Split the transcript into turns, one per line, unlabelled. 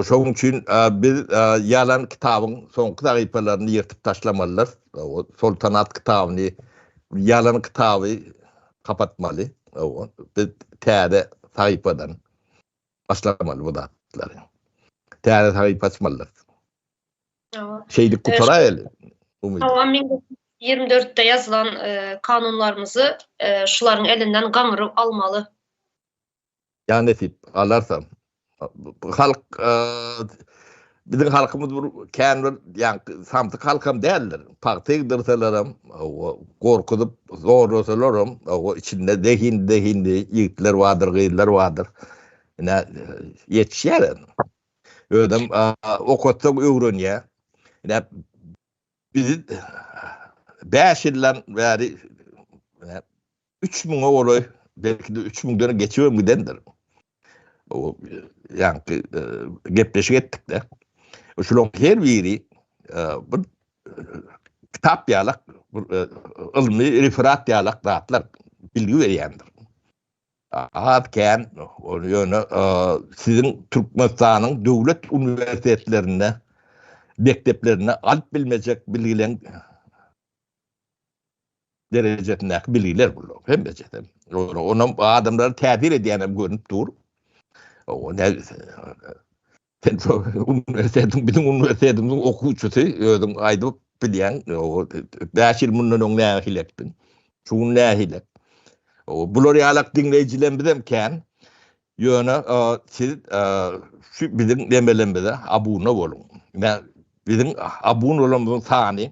Şoň üçin biz ýalan kitabyň soňky sahypalaryny ýyrtyp taşlamalydyrys. Soltanat kitabyny, ýalan kitaby gapatmaly. Biz täze sahypadan başlamaly bu zatlary. Täze sahypa açmalydyrys. Şeýdip gutaraýaly. Hawa, 1400-de ýazylan kanunlarymyzy şularyň elinden gaňryp almaly. Ýa nesip galarsa. Halk biziň halkymyz bir kän bir ýaňky samsyk halkam däldir. Pagta egdirselerim, gorkuzyp zorlasalaram, o içinde zehin zehinli ýigitler bardyr, gyzlar bardyr. Ine ýetişýär. Özüm okatsa öwrenýär. Ine biz 5 ýyldan bäri üç müňe golaý, belki-de üç müňden geçibem gidendir. O, ýaňky e, gepleşik etdik-de. Şularyň her biri e, bir e, kitap ýalak, bir ylmy referat ýalak zatlar bilgi berýändir. Az kän, ony ýöne siziň Türkmenistanyň döwlet uniwersitetlerinde, mekdeplerinde alyp bilmejek bilgilen derejesindäki bilgiler bular hemmesi. Onam adamlara täsir edýänem görnüp dur. O ne sen so uniwersitetiň biziň uniwersitetimiziň okuwçysy özüň aýdyp bilýän o 5 ýyl mundan öň nähili etdiň. Şu gün nähili. O bular ýalak diňleýjilerimiz hem kän. Ýöne siz şu biziň demelerimize abuna boluň. Biziň abun bolanymyzyň sany